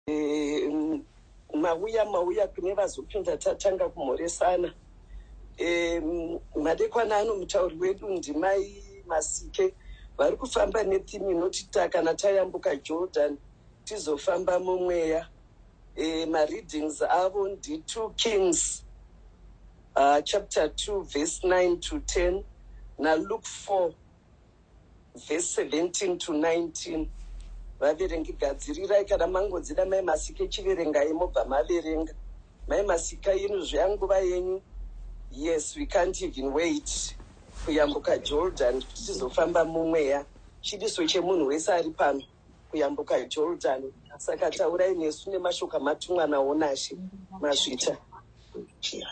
um, mauya mauya kune vazopinda tatanga kumhoresana um, madekwana ano mutauri wedu ndimai masike vari kufamba nethimi inoti ta kana tayambuka jordan tizofamba mumweya e, mareadings avo ndi2 kings uh, chapter 2 verse 9 to 10 naluke 4 vhesi 17 to 19 vaverengi gadzirirai kana mangodzida mai masike chiverengai mobva maverenga mai masika inu zveyanguva yenyu yes we can't even wait kuyambuka jordan kuti tizofamba mumweya chidiso chemunhu wese ari pano kuyambuka Jordan. Saka taurai nesu nemashoko amatumwa nawo naShe Mazvita.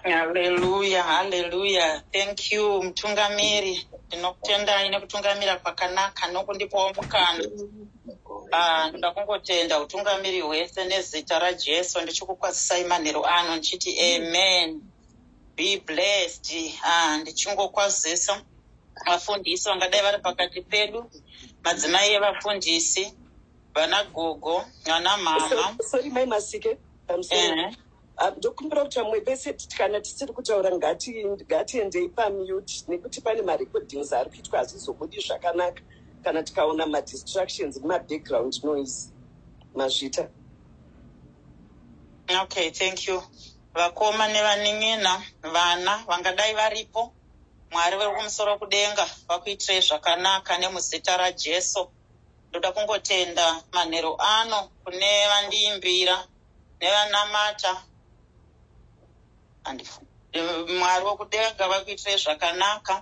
Haleluya, haleluya. Thank you mutungamiri. Ndinokutendai nekutungamira kwakanaka nokundipawo mukana. Ah, ndoda kungotenda utungamiri hwese nezita raJesu ndichikukwazisai manheru ano ndichiti amen. Be blessed. Ah, ndichingokwazisa vafundisi vangadai vari pakati pedu, madzimai evafundisi, vana gogo, vana mama. So- sorry mai masike I'm sorry. Ehe. Ah, ndokumbira kuti vamwe vese ti- kana tisiri kutaura ngati- ngatiendei pamute nekuti pane marecordings ari kuitwa hazvizobudi zvakanaka kana tikaona madistractions nemabackground noise mazvita Okay, thank you. Vakoma nevanin'ina, vana vangadai varipo, Mwari vekumusoro kudenga vakuitirei zvakanaka nemuzita raJesu. Ndoda kungotenda manheru ano kune vandiimbira nevanamata and Mwari wekudenga vakuitirei zvakanaka.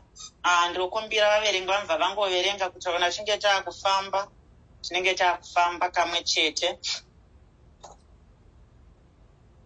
Ah, ndokumbira vaverengi vamva vangoverenga kuti kana tinge taakufamba tinenge taakufamba kamwe chete.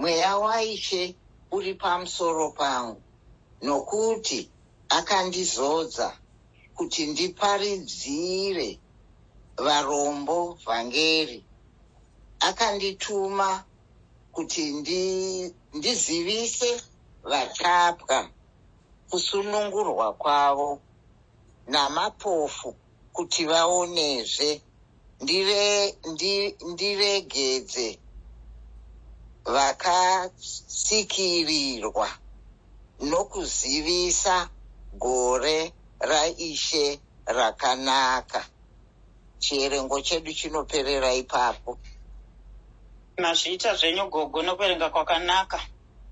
mweya waishe uri pamusoro pangu nokuti akandizodza kuti ndiparidzire varombo vhangeri akandituma kuti ndi, ndizivise vatapwa kusunungurwa kwavo namapofu kuti vaonezve ndire ndi, ndiregedze vakasikirirwa nokuzivisa gore raishe rakanaka chierengo chedu chinoperera ipapo mazviita zvenyu gogo nokuverenga kwakanaka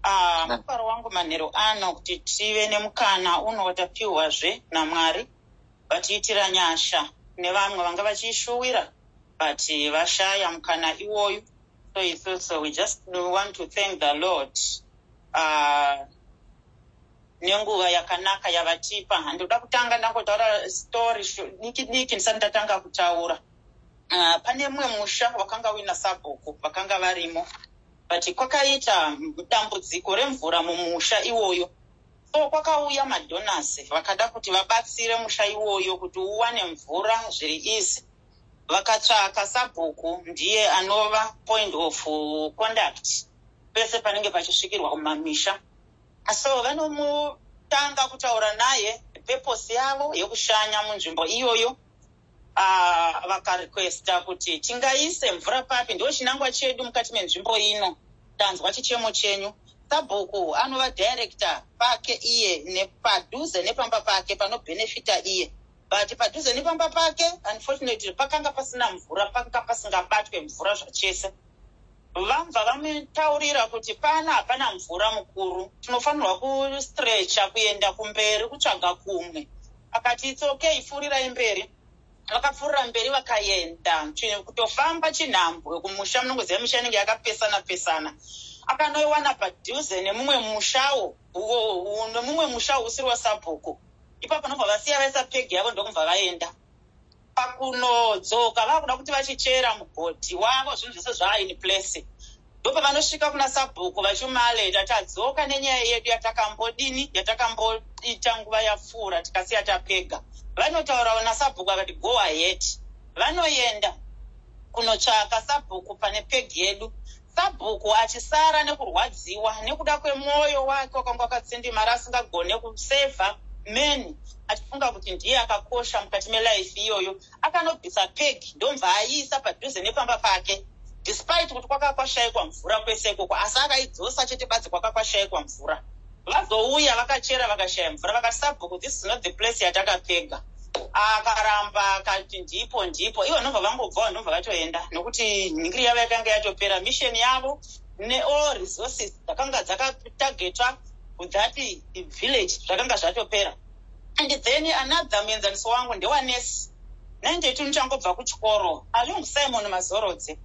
ah, mufaro wangu manhero ano kuti tive nemukana unotapiwazve namwari vatiitira nyasha kune vamwe vanga vachiishuwira but vashaya mukana iwoyu so isu so we just want to thank the lord uh, nenguva yakanaka yavatipa handikuda kutanga ndangotaura story diki diki ndisati ndatanga kutaura uh, pane mumwe musha wakanga uina sabhuku vakanga varimo but kwakaita dambudziko remvura mumusha iwoyo So kwakauya madonors vakada kuti vabatsire musha iwoyo kuti uwane mvura zviri easy. Vakatsvaka sabhuku ndiye anova point of conduct pese panenge pachisvikirwa kumamisha. So vanomutanga kutaura naye purpose yavo yekushanya munzvimbo iyoyo. Ah, vakarequesta kuti tingaise mvura papi ndo chinangwa chedu mukati menzvimbo ino tanzwa chichemo chenyu sabhuku anova director pake iye nepadhuze nepamba pake panobhenefita iye but padhuze nepamba pake unfortunately pakanga pasina mvura pakanga pasingabatwe mvura zvachese vambva vamutaurira kuti pana hapana mvura mukuru tinofanirwa kustrecha kuenda kumberi kutsvaga kumwe akati its okay pfuurirai mberi vakapfuurira mberi vakaenda kutofamba chinhambwe kumusha munongoziva misha inenge yakapesana pesana akanoiwana padhuze nemumwe mushawo nemumwe musha usiri wasabhuku ipapo nobva vasiya vaisa pegi yavo ndokubva vaenda pakunodzoka vakuda kuti vachichera mugodhi wavo zvinhu zvese zvaaini place ndopavanosvika kuna sabhuku vachimaleta tadzoka nenyaya yedu yatakambodini yatakamboita nguva yapfuura tikasiya tapega vanotaurawo nasabhuku vakati go ahead vanoenda kunotsvaka sabhuku pane peg yedu Sabhuku achisara nekurwadziwa nekuda kwemwoyo wake wakanga wakatsindimara asingagone kusevha men achifunga kuti ndiye akakosha mukati melife iyoyo akanobvisa peg ndobva aiisa padhuze nepamba pake despite kuti kwaka kwashaikwa mvura kwese ikoko asi akaidzosa chete badzi kwaka kwashaikwa mvura Vazouya vakachera vakashaya mvura vakati sabhuku this is not the place yatakapfega. Akaramba akati ndipo ndipo ivo ndobva vangobvawo ndobva vatoenda nokuti nhingiri yavo yakanga yatopera mission yavo neall resources dzakanga dzakatargetwa that village zvakanga zvatopera and then another muenzaniso wangu ndewanesi nainde tunu changobva kuchikoro along simon mazorodze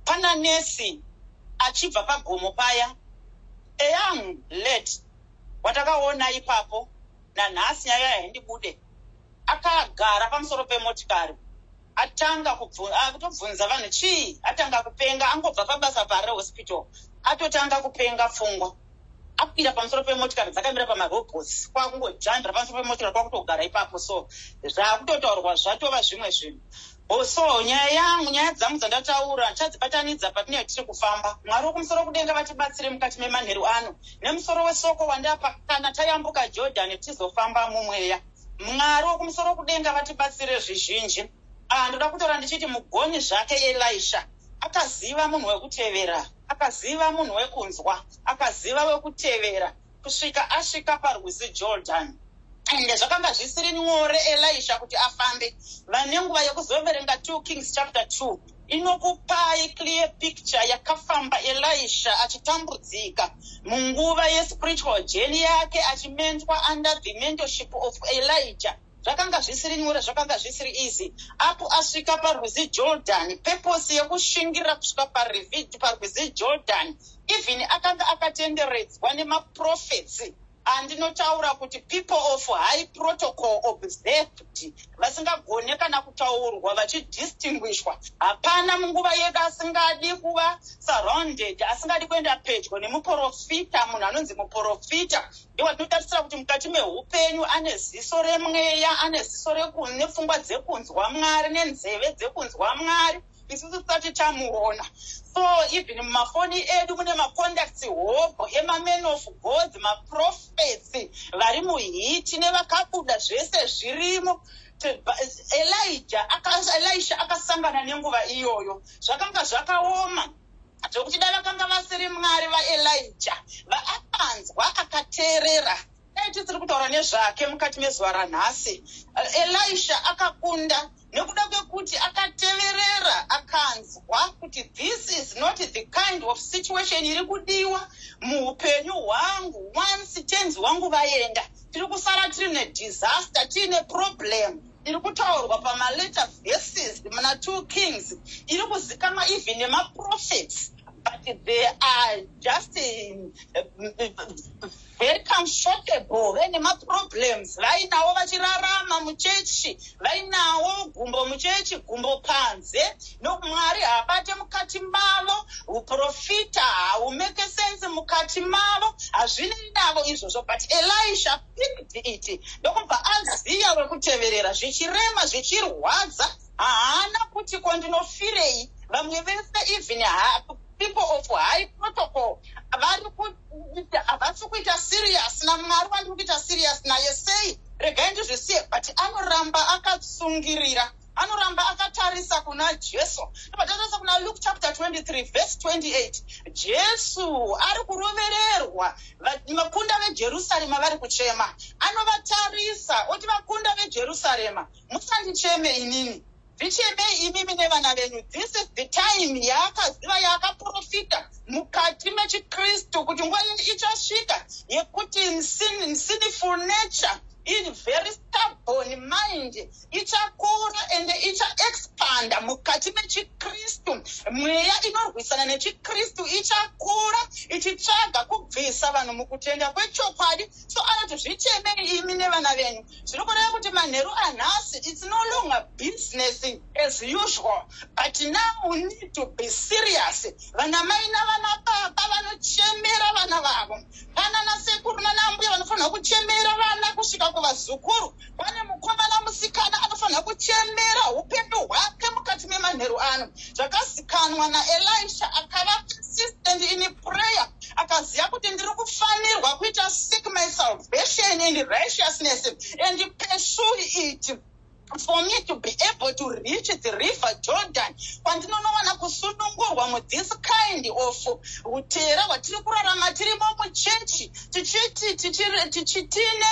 pana nesi achibva pagomo paya A young lady watakaona ipapo nanhasi nyaya yaindibude akagara pamusoro pemotikari atanga kutobvunza vanhu chii atanga kupenga angobva pabasa pare hospital atotanga kupenga pfungwa akwira pamusoro pemotikari dzakamira pamarobots kwakungojanira pamusoro pemotikari kwakutogara ipapo so zvakutotaurwa zvatova zvimwe zvinhu Also, nyaya yangu, nyaya dzangu dzandataura tadzibatanidza patinenge tiri kufamba. Mwari wokumusoro kudenga vatibatsire mukati memanheru ano nemusoro wesoko wandapa kana tayambuka Jodhani tichizofamba mumweya. Mwari wokumusoro kudenga vatibatsire zvizhinji. Ah, ndoda kutaura ndichiti mugoni zvake Elisha akaziva munhu wekutevera, akaziva munhu wekunzwa, akaziva wekutevera. kusvika asvika parwizi jordani ende zvakanga zvisiri nyore elisha kuti afambe vane nguva yekuzoverenga 2 kings chapter 2 inokupai clear picture yakafamba elisha achitambudzika munguva yespiritual jeni yake achimentwa under the mentorship of elijah zvakanga zvisiri nyore zvakanga zvisiri easy apo asvika parwizi jordan peposi yekushingirira kusvika parwizi jordan even akanga akatenderedzwa nemaprofetsi andinotaura kuti people of high protocol observed vasingagone kana kutaurwa vachidistinguishwa hapana munguva yedu asingadi kuva surrounded asingadi kuenda pedyo nemuprofita munhu anonzi muprofita ndiwo ndinotarisira kuti mukati meupenyu ane ziso remweya ane ziso nepfungwa dzekunzwa mwari nenzeve dzekunzwa mwari isu tisati tamuona so even mumafoni edu mune macontacts hobho emaman of gods maprofets vari muhiti nevakabuda zvese zvirimo elija elisha akasangana nenguva iyoyo zvakanga zvakaoma zvokuti dai vakanga vasiri mwari vaelija vaakanzwa akateerera dai tisiri kutaura nezvake mukati mezuva ranhasi eh, elisha akakunda nekuda kwekuti akateverera akanzwa kuti this is not the kind of situation iri kudiwa muupenyu hwangu once tenzi wangu vaenda tiri kusara tiri nedisaster tiine problem iri kutaurwa pamalater verses muna two kings iri kuzikanwa even nemaprofets but they are just very comfortable vaine maproblems vainawo vachirarama muchechi vainawo gumbo muchechi gumbo panze nomwari haabate mukati mavo uprofita haumeke sense mukati mavo hazvinei navo izvozvo but elisha iridhiiti ndokubva aziya wekuteverera zvichirema zvichirwadza haana kuti ko ndinofirei vamwe vese even people of high protocol vari kuita havasi kuita serious namwari wandiri kuita serious naye sei regai ndizvisiye but anoramba akatsungirira anoramba akatarisa kuna jesu patarisa kuna luke chapter 23 verse 28 jesu ari kurovererwa vakunda vejerusarema vari kuchema anovatarisa oti vakunda vejerusarema musandicheme inini zvichemei imimi nevana venyu this is the time yaakaziva yaakaprofita mukati mechikristu kuti nguva yeni ichasvika yekuti sinful nature in very stubborn mind ichakura ende ichaexpanda mukati mechikristu mweya inorwisana nechikristu ichakura ichitsvaga kubvisa vanhu mukutenda kwechokwadi so anoti zvichemei imi nevana venyu zviri kureva kuti manheru anhasi its no longer business as usual but now we need to be serious vana mai navana baba vanochemera vana vavo kana nasekuru nanaambuya vanofanirwa kuchemera vana kusvika kuvazukuru pane mukomana musikana anofanira kuchemera upenyu hwake mukati memanheru ano zvakazikanwa naelisha akava consistent in prayer akaziva kuti ndiri kufanirwa kuita sick my salvation and righteousness and pursue it for me to be able to reach the river jordan kwandinonowana kusunungurwa muthis kind of utera hwatiri kurarama tirimo muchechi tichiti tiine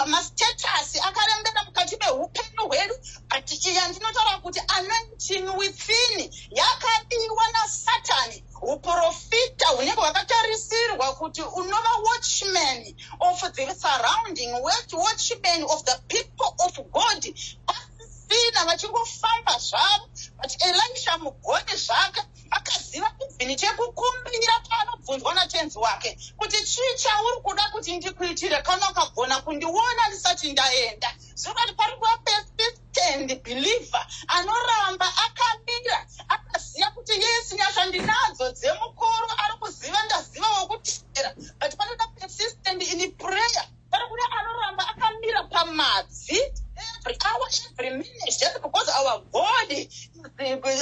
mastatasi akarembera mukati meupenyu hwedu but iya ndinotaura kuti anointin within yakabiwa nasatani uprofita hunenge hwakatarisirwa kuti unova watchman of the surrounding watchman of the people of god pasina vachingofamba zvavo but elisha mugoni zvake akaziva even chekukumbira paanobvunzwa natenzi wake kuti chii chauri kuda kuti ndikuitire kana ukagona kundiona ndisati ndaenda zvekati pari kuva persistent believer anoramba akamira akaziva kuti yes nyasha ndinadzo dzemukoro ari kuziva ndaziva wokutera but panoda persistent in prayer Kana kuda anoramba akamira pamadzi every hour every minute just because our God is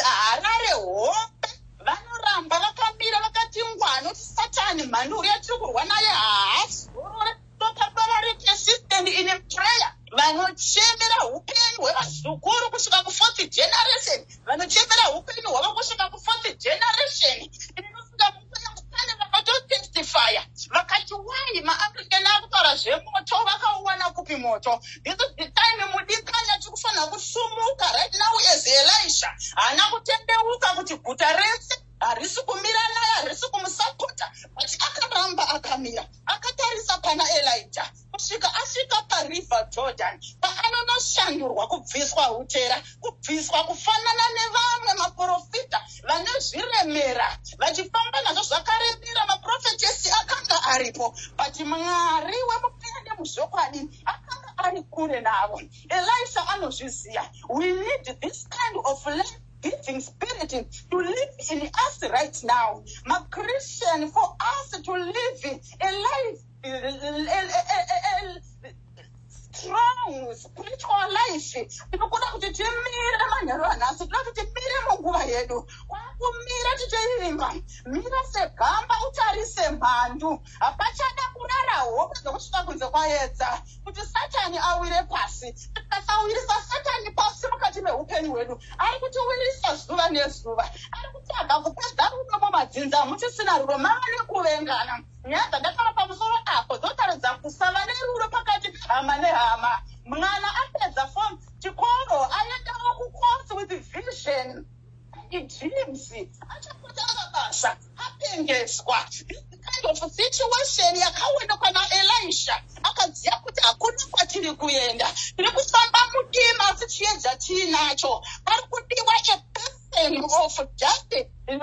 Harare hope vanoramba vakamira vakati ngwani kuti satani mhani uya tiri kurwa naye haasi gorore topapararike system in prayer vanochemera upenyu hwevazukuru kusvika kufourth generation vanochemera upenyu hwavo kusvika kufourth generation fire vakati wai maafrican akutara zvemoto vakauwana kupi moto this is the time mudikanya tikufanira kusumuka right now as elisha haana kutendeuka kuti guta rese harisi kumira naye harisi kumusapota but akaramba akamira akatarisa pana elija kusvika asvika pariver jordan paanonoshandurwa kubviswa utera kubviswa kufanana nevamwe maprofita vane zviremera vachifamba nazvo zvakaremera maprofetesi akanga aripo but mwari wemupira nemuzvokwadi akanga ari kure navo elisha anozviziva we need this kind of life giving spirit to live in us right now machristian for us to live a life strong spiritual life tinokuda kuti timire manheru anhasi tinoda kuti timire munguva yedu kwakumira tichivimba mira segamba utarise mhandu hapachada kurara hope dzokusvika kunze kwaedza kuti satani awire pasi tikasawirisa satani pasi mukati meupenyu hwedu ari kutiwirisa zuva nezuva ari kutaga kupedza rudo mumadzinza mutisina rudo mava nekuvengana Nyaya dzandataura pamusoro apo dzotaridza kusava nerudo pakati pehama nehama. Mwana apedza fom chikoro aendawo kucourse with vision idreams achapota mabasa apengeswa kind of situation yakaona kwana elisha akaziva kuti hakuna kwatiri kuenda tiri kufamba mudima asi chiedza tiinacho ari kudiwa person of just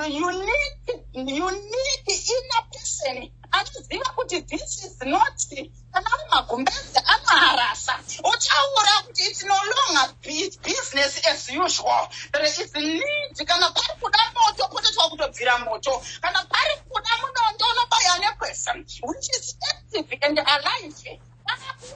unique, unique inner person anoziva kuti this is not kana ari magumbezi anoharasa uchaura kuti it's no longer business as usual there is need kana pari kuda moto potoitwa kutobvira moto kana pari kuda munondo unobaya neperson which is active and alive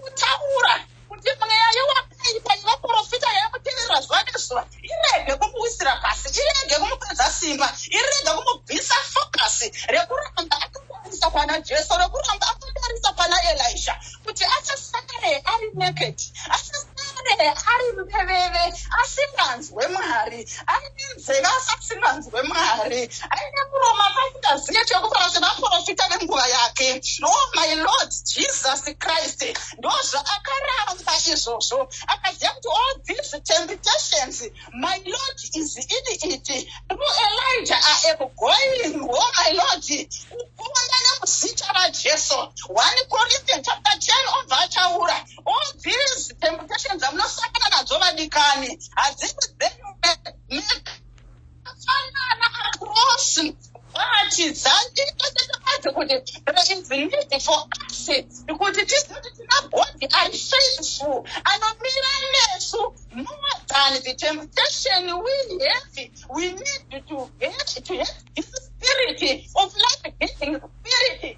kutaura kuti mweya yewakaipa yevaprofita yamuteverera zuva nezuva irege kumuwisira pasi irege kumupedza simba irege kumubvisa fokasi rekuramba akatarisa pana jesu rekuramba akatarisa pana elisha kuti achasare ari naked achasare ari mupeveve asinganzi asinganzwe mwari aine nzeve asi asinganzwe mwari aine muromo asi asingazive chekutaura zvemaprofita venguva yake o oh my lord jesus christ ndo zvaakaramba izvozvo akaziva kuti all these temptations my lord is in it through elijah i am going o oh my lord kuona nemuzita rajesu one corinthian chapter 10 obva achaura all these temptations amunosangana nadzo vadikani hadzisi dzenyu makafanana across vati dzanditotetebadze kuti there is need for us kuti tizive kuti tina body ari faithful anomira nesu more than the temptation we have we need to get to have this spirit of life giving spirit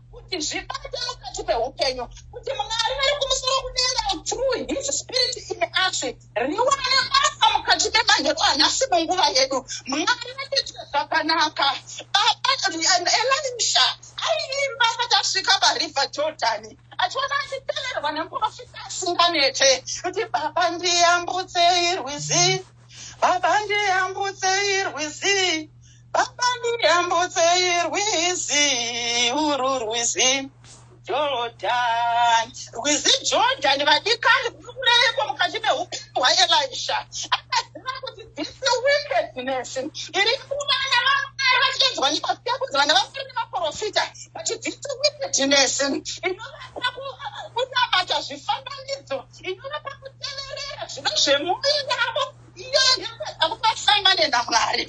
kuti zvibate mukati meupenyu kuti mwari vari kumusoro kudenga through his spirit in us riwane basa mukati memahero anhasi munguva yedu mwari vatiite zvakanaka baba elisha aiimba asati asvika pariver jordan achiona achiteverwa nemuprofita asinganete kuti baba ndiyambutsei rwizi baba ndiyambutsei rwizi Baba ndiyambutsei rwizi uru rwizi Jordan. Rwizi Jordan vadikani kureiko mukati meupenyu hwaElisha. Akaziva kuti this wickedness iri kuvana vamwari vachiedzwa nemafiya kunzi vana vamwari nemaprofita but this wickedness inovapa kunamata zvifananidzo inovapa kuteverera zvino zvemuvi yavo kusangane namwari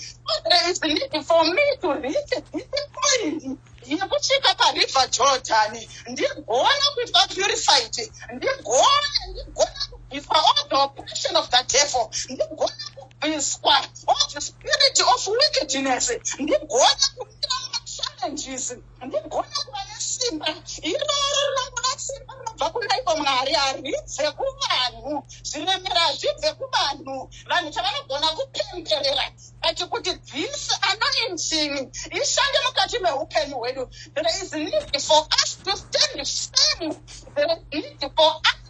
there is need for me to reach this point yekusvika pariver jordan ndigona kuitwa purified ndigona ndigona kubviswa all the oppression of the devil ndigona kubviswa all the spirit of wickedness ndigona kumira machallenges Ndigona kuva nesimba iro rinongoda simba rinobva kunaivo mwari haridze kuvanhu zviremera hazvibve kuvanhu vanhu chavanogona kupemberera ati kuti this anointing ishande mukati meupenyu hwedu there is need for us to stand firm there is need for us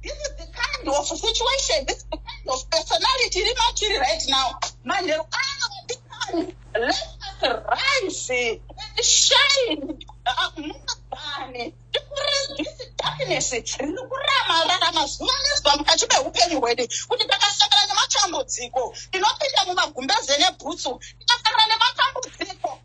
This is the kind of situation, this is the kind of personality iri matiri right now. Manheru ano madikani, let us rise and shine. Mungabani, tikurezisi darkness, riri kurama rara mazuva nezwa mukati mehupenyu hwedu. Kuti takasangana nematambudziko, tinopinda mumagumbeze nebhutsu, tikafanana nematambudziko.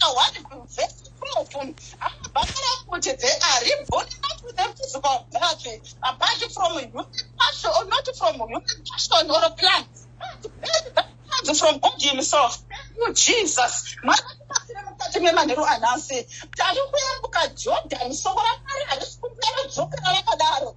awani kuvhesi kunofunga amabhakara kuti they are reborn not with a physical birth apart from human passion or not from human passion or a plan but from god himself you jesus marakubatsira mukati memanheru anhasi tari kuyambuka jordan soko ramari harisi kumbera dzokera rakadaro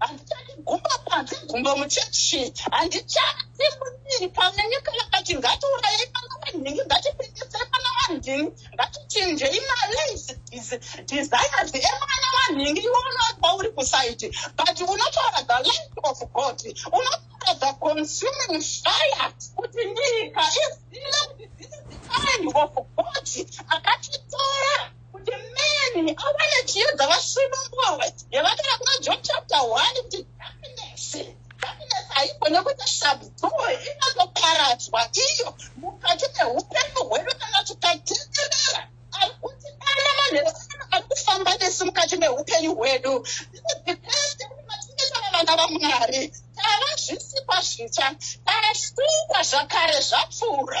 handichati gumba panze gumba muchechi handichati mudiri pamwe nyika yakati ngatiurayei pana vanhingi ngatipindisei pana vanhingi ngatichinjei malays desires emwana vanhingi iwe unoatwa uri kusaiti but unotaura the life of god unotaura the consuming fire kuti nyika izive kuti this is the kind of god akatitora kuti meni awane chiyo dzavasvino mbova yavataura kuna john chapter one kuti happiness happiness haiko nekuti shabdoo inotoparadzwa iyo mukati meupenyu hwedu kana tikatenderera akuti kana manhero akufamba nesu mukati meupenyu hwedu vana vamwari tava zvisikwa zvitsva tasukwa zvakare zvapfuura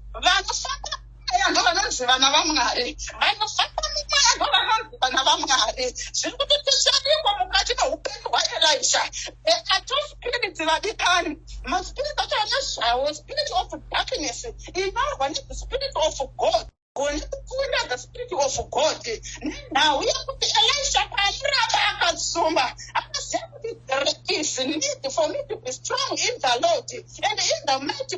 vanofamba mweya ndovanonzi vana vamwari vanofamba mumweya ndovanonzi vana vamwari zviri kuti tichadiko mukati meupenyu hwaelisha the ato spirits vadikani maspirit acho anezvawo spirit of darkness inorwa nespirit of god goni kukunda the spirit of god nenhau yekuti elisha paamuramba akasumba akaziva kuti there is need for me to be strong in the lord and in the mighty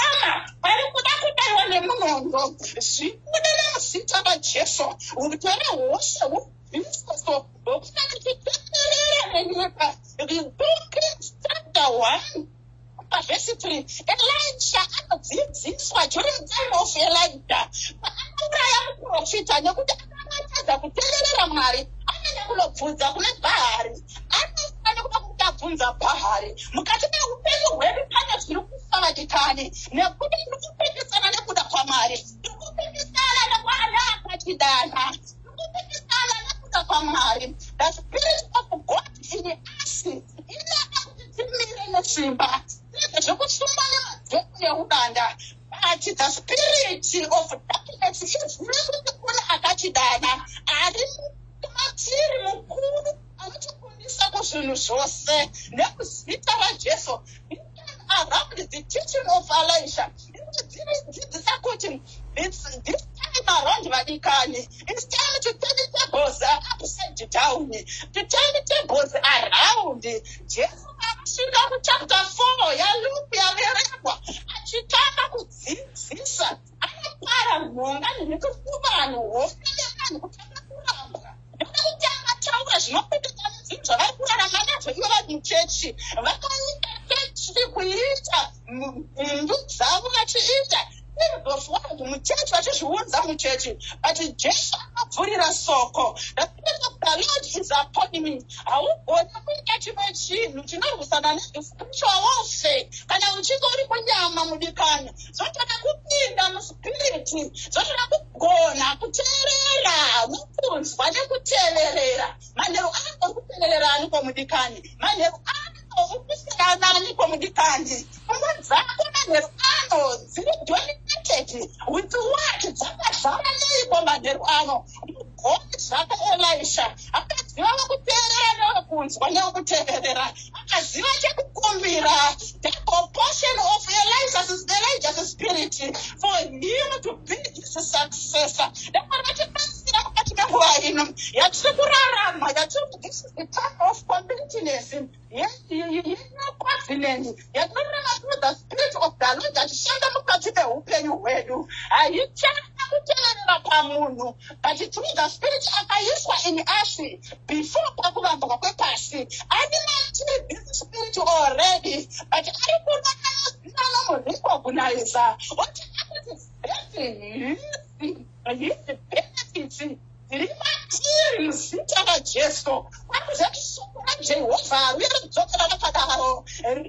Ona, vari kuda kudaiwa nemunondo zvikuda nemuzita majesu utore hosha hubvisoso hokuna kuti teterera nenyika vhesi 3 elisha anodzidziswa during time of elija paanouraya muprofita nekuti akamatadza kuteererera mwari anoenda kunobvunza kuna bhaari bvunza bhahari mukati meupenyu hwedu pane zviri kusarakikani nekuti tiri kupikisana nekuda kwamwari tiri kupikisana nekwaana akatidana tiri kupikisana nekuda kwamwari the spirit of god in us inoda kuti timire nesimba zvekusimba nemadhemu neudanda but the spirit of darkness is nekuona akatidana ari matiri mukuru anotikundisa kuzvinhu zvose nekuzita rajesu around the teaching of elisha dzinodzidzisa kuti this time around vadikani its time to turn tables upside down to turn tables around jesu kusvika kuchapta 4 yaluku yaverekwa achitanga kudzidzisa anopara nhonga nekufuba vanhu hofa yevanhu kutanga kurambwa nekuda kuti angataura zvinopeteka nezvinhu zvavari kurarama nazvo ivo vari muchechi vakaita chechi kuita mhindu dzavo vachiita ndozvonzi muchechi vachizviunza muchechi but jesu akabvurira soko haugoni kuita chimwe chinhu chinorwisana nespiritual warfare kana uchinge uri kunyama mudikana zvotoda kupinda muspiriti zvotoda kugona kuteerera nokunzwa nekuteverera manheru ako kuteverera aniko mudikani manheru ako ndikusikananiko mudikani pfungwa dzako manheru ano dziri dominated with what dzakazara neiko manheru ano mugoni zvako elisha akaziva vekuteerera newekunzwa newekuteerera akaziva chekukumbira the composition of elijah's, elijah's spirit for him to be his successor ndakona tibatsira mukati menguva ino yatiri kurarama yatiri This is the type of completeness yenocovenant yatinoreva through the spirit of the lord achishanda mukati meupenyu hwedu haichana kuteverera pamunhu but through the spirit akaiswa in us before pakuvambwa kwepasi ane matiri this spirit already but ari kuda kayazina nomurecogniza oti akuti hesi hisi hisi benefits Ndiri matiri muzita raJesu. Akuzati shoko raJehovha riuye rodzokera rakadaro.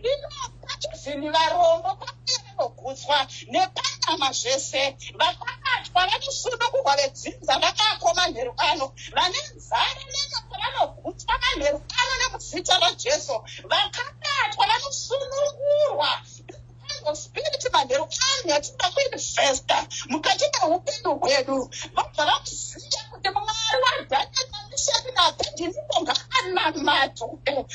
Rinobata zvinhu varombo pamwe rinogutswa nepanyama zvese. Vakabatwa vanosunungurwa vedzinza vakako manheru ano. Vane nzara nenyota vanogutswa manheru ano nemuzita raJesu. Vakabatwa vanosunungurwa. manheru anhu atida kuinvesta mukati meupenyu hwedu vabva vamuziva kuti mwari wadhaaamishepi nape ndinibonga anamato hokenyu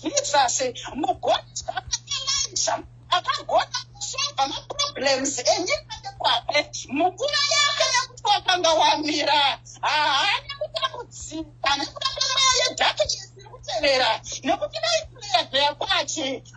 jesus mugoni zvakaelanja akagona kusova maproblems enyika nekwake mukura yake nekuti wakanga wamira haana kutambudzika nekuda kwemaya yedhake yesiri kutevera nekuti vaipleya dheya kwache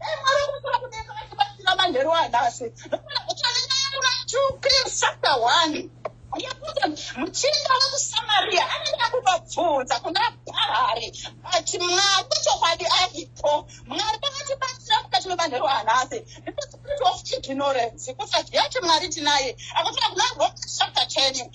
Dai Mwari kumusoro kudenga vachibatsira manheru anhasi nokuna kutonenayamura chukiri chapter one yekuti muchinda wekusamariya anenge akubabvunza kuna bharari but mwari wechokwadi aripo mwari vakatibatsira mukati memanheru anhasi because spirit of ignorance kusaziva kuti mwari tinaye akutira kuna roma chapter ten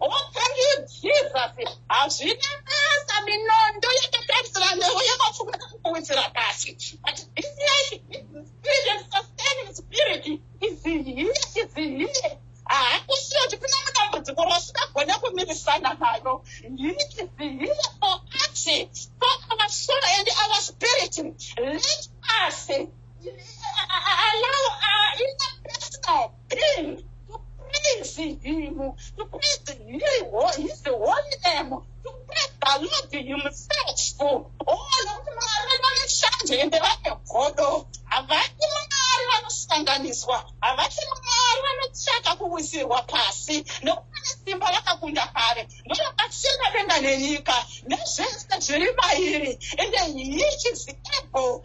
Oh, thank you, Jesus. Hazvina basa minondo yakatarisira newe yakafunga kukuwedzera pasi. But this life, this spirit and sustaining spirit is here, is here. Hakusiyo kuti kune matambudziko rausingagona kumirisana nayo. Here is here for us, for our soul and our spirit. Let us allow our inner personal King, to praise him, to praise him, his holy name, to praise the Lord himself. Oh, nokuti Mwari vane shanje ende vane godo. Havadi Mwari vanosanganiswa, havadi Mwari vanotsvaka kuwisirwa pasi, nokuti vane simba rakakunda kare, ndovakatsira denga nenyika, nezvese zviri mairi, ende he is able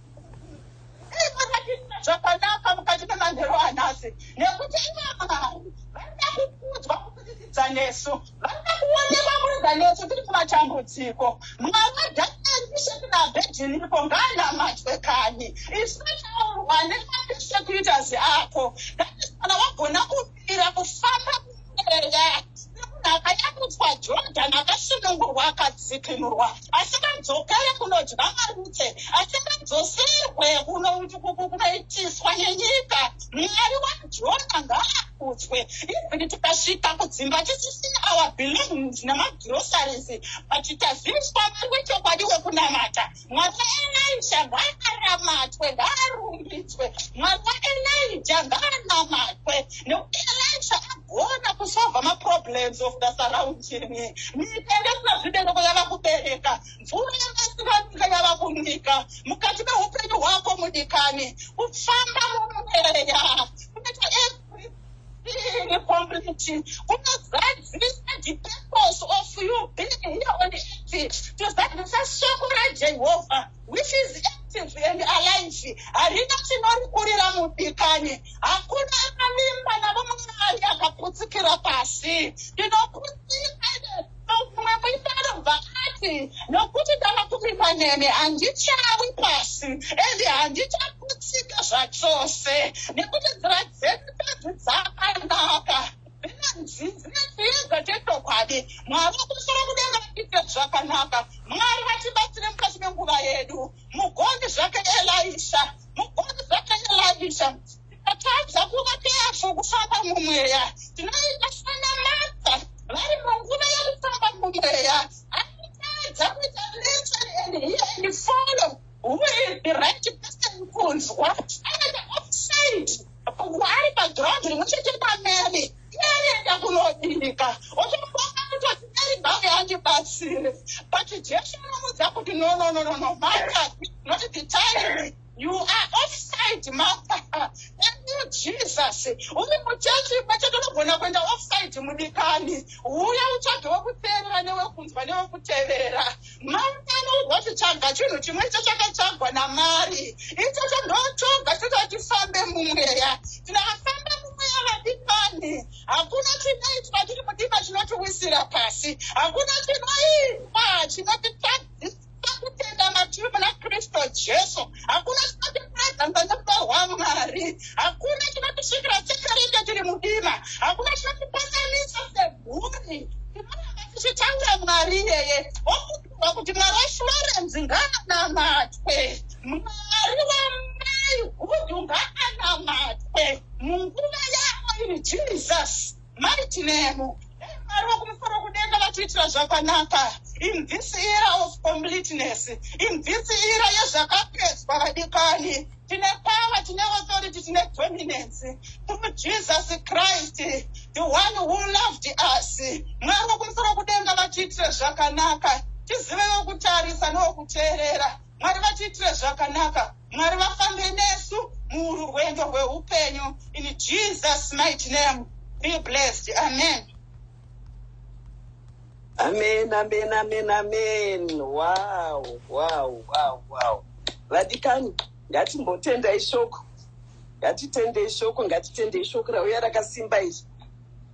zvakanaka mukati memanheru anhasi nekuti ivamwari vanoda kukudzwa kuburikidza nesu vanoda kuonekwa kuridza nesu tiri kumatambudziko mwaka daaisheki naabhedhiniko ngaanamatwe kani isu taurwa nemapesekutors ako thatis kana wagona ira kufamba kueya akanyakudzwa jordan akasunungurwa akadzikinurwa asingadzokere kunodya marutse asingadzosirwe kunoitiswa nenyika mwari wajona ngaakudzwe even tikasvika kudzimba tisisina our belongings nemagroceries but taziviswa mari wechokwadi wekunamata Mwaka Elija ngaaramatwe, ngaarumbidzwe. Mwaka Elija ngaanamatwe. Nekuti Elija agona kusolva maproblems of the surrounding. Nyika yasina zvibereko yava kubereka. Mvura yakasina nyika yava kunyika. Mukati mehupenyu hwako mudikani, kufamba mumweya. Kunoita community kunozadzisa the purpose of you being here on the earth tozadzisa shoko rajehovha which is active and alive harina chinorikurira mudikani hakuna akavimba navo mwari akaputsikira pasi tinokutsira Akabvuma kudaro bva ati, Nokuti ndakakumbirwa nemi, handichawi pasi, ende handichaputsika zvachose, nekuti nzira dzenyu bedzi dzakanaka, dzinanzi dzine chiedza chechokwadi. Mwari wokumusoro kudenga vatiitira zvakanaka. Mwari vatibatsire mukati menguva yedu. Mugoni zvake Elisha, mugoni zvake Elisha. Tatadza kuva kefu kufamba mumweya. Tinoita sana mata vari munguva yekufamba mumweya. Anotadza kuita listen and hear and follow who is the right person kunzwa. Anoita offside ari paground rimwe chete pamene. Anoenda kunobika. Otombonga kutoti ari bhawe andibatsire. But Jesu anomudza kuti no no no no no mata not the time. You are offside, mother. Thank you, Jesus. Uri muchechi pacho tinogona kuenda offside mudikani. Uya utsvage wekuteerera newekunzwa newekuteerera. Maungano urwazvitsvaga chinhu chimwe icho chakatsvagwa namari. Icho chandootsvaga chinoita kuti tifambe mumweya. Tinafamba mumweya vadikani. Hakuna chinoitwa chiri mudiba chinotiwisira pasi. Hakuna chinoitwa chinotitadzisa. kutenda matiri muna kristu jesu hakuna chinotiprezanza nerudo rwamwari hakuna chinotisvikira chekarenge tiri mudima hakuna chinotipasanisa semhuri tinoramba tichitaura mwari iyeye okutirwa kuti mwari weshuwarenzi ngaanamatwe mwari wamai hudu ngaanamatwe munguva yavo ini jesus Mighty name. Mwari vokumusoro kudenga vatiitira zvakanaka in this era of completeness in this era yezvakapedzwa vadikani tine power tine authority tine dominance through jesus christ the one who loved us mwari vokumusoro kudenga vatiitire zvakanaka tizive vokutarisa nevokuteerera mwari vatiitire zvakanaka mwari vafambe nesu muurwendo rweupenyu in jesus might name be blessed amen amen amen amen amen wow wow wow wow vadikani ngatimbotenda ishoko ngatitende ishoko ngatitende ishoko rauya rakasimba izvi